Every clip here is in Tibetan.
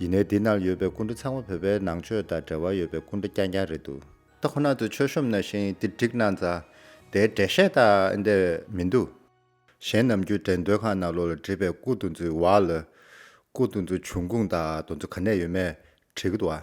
ཡིན་ནའི་འདི་ན་ཡོད་པའི་སྐུ་འདྲ་ཚང་མ་བོད་པའི་ནང་ཆོས་དང་འབྲེལ་བ་ཡོད་པའི་སྐུ་འདྲ་རྐྱང་རྐྱང་རེད་འདུག། ད་ཁོ་ན་ཚོས་ཆོས་གཤོམ་ན་ཤེས་ཡིན་འདིར་བསྒྲིགས་གནང་ཙང། དེའི་འགྲེལ་བཤད་དག་ཨེ་འདེ་བས་མི་འདུག། གཞན་ནམ་རྒྱུད་འགྲེལ་འདོད་ཁང་ནང་ལོག་ལ་བྲིས་པའི་སྐུ་འདུ་འཛུའི་བར་ལ། སྐུ་འདུ་འཛུ་བྱུང་ཁུངས་དང་འདུ་འཛུ་ག་ནས་ཡོད་མེད་དྲིས་གི་འདུག་ཨ།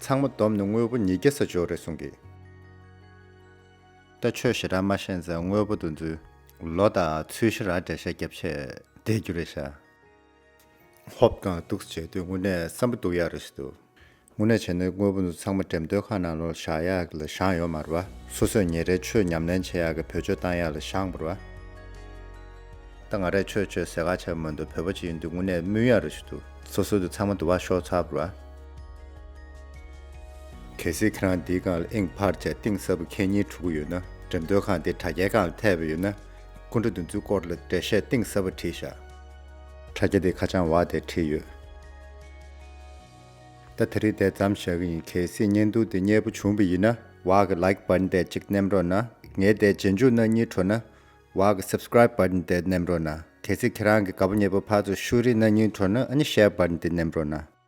ཚང་མ་བསྡོམས་ནས་དངོས་པོ་ཉིས་བརྒྱ་ས་འཇོག་རེད་གསུང་གི། ལྟ་ཆོས་ཞེ་དྲག་མ་ཤེས་ཚེ་དངོས་པོ་འདུ་འཛུལ། ལོ་དང་ཚུལ་ཞེ་རག་འགྲེལ་བཤད་རྒྱབ་ཆད་བསྡད་རྒྱུ་རེད་ཤག། ཧོབ་དང་གདུགས་བྱས་དུས་དངོས་གནས་བསམ་པ་སྡུག་ཡག་རེད་ཤི་འདུག། དངོས་གནས་བྱས་ནས་དངོས་པོ་འདི་ཚང་མ་འགྲེམས་སྟོན་ཁང་ནང་ལོག་བཞག་ཡག་གི་ལ་བཞག་ཡོག་མ་རུ་བ། སོ་སོས་ཉེ་རེ་ཆོས་ཉམས་ལེན་བྱེད་ཡག་གི་བོད་ཆོས་བཏང་ཡག་ལ་བཞག་མ་རུ་བ། ད་ང་རེ་ཆོས་ཆོས་ཟེར་ག་ཆ་མོད་འདུག་བོད་པ་ཅིག་ཡིན་དུས་དངོས་གནས་སྨོས་ཡག་རེད་ཤི་འདུག་སོ་སོ་འདི་ཚང་མ་འདུ་བ་ཤོག་ཚར་རུ་བ། གལ་སྲིད་ཁྱེད་རང་འདིའི་སྒང་ལ་ཨིང་བྷར་བཅས་གཏིང་ཟབ་པོ་ཁྱེད་ཉིད་ཕྲུ་གུ་ཡོད་ན་འགྲེམས་སྟོན་ཁང་འདིའི་དྲ་རྒྱའི་སྒང་ལ་ཐེབས་ཡོད་ན། སྐུ་འདྲ་འདི་ཚོའི་སྐོར་ལ་འགྲེལ་བཤད་གཏིང་ཟབ་པོ་བྲིས་བཞག། དྲ་རྒྱ་འདིའི་ཁ་བྱང་བ་དེར་བྲིས་ཡོད། ད་དེ་རིགས་དེ་ཙམ་བཞག་གི་ཡིན་གལ་སྲིད་བརྙན་ཐུང་འདི་མཉེས་པོ་བྱུང་བ་ཡིན་ན། བ་གི Like Button དེ་གཅིག་ནེམ་རོགས་ན། ངའི་དེ་རྗེས་འཇུག་ན་གཉིས་འཕྲོ་ན། བ་གི Subscribe Button དེ་ནེམ་རོགས་ན། གལ་སྲིད་ཁྱེད་རང་གི་ག་བ་མཉེས་པོ་ཕར་ཚུར་ཤུ་རིགས་ན་གཉིས་འཕྲོ་ན་ཨ་ནི Share Button དེ་ནེམ་རོགས་ན།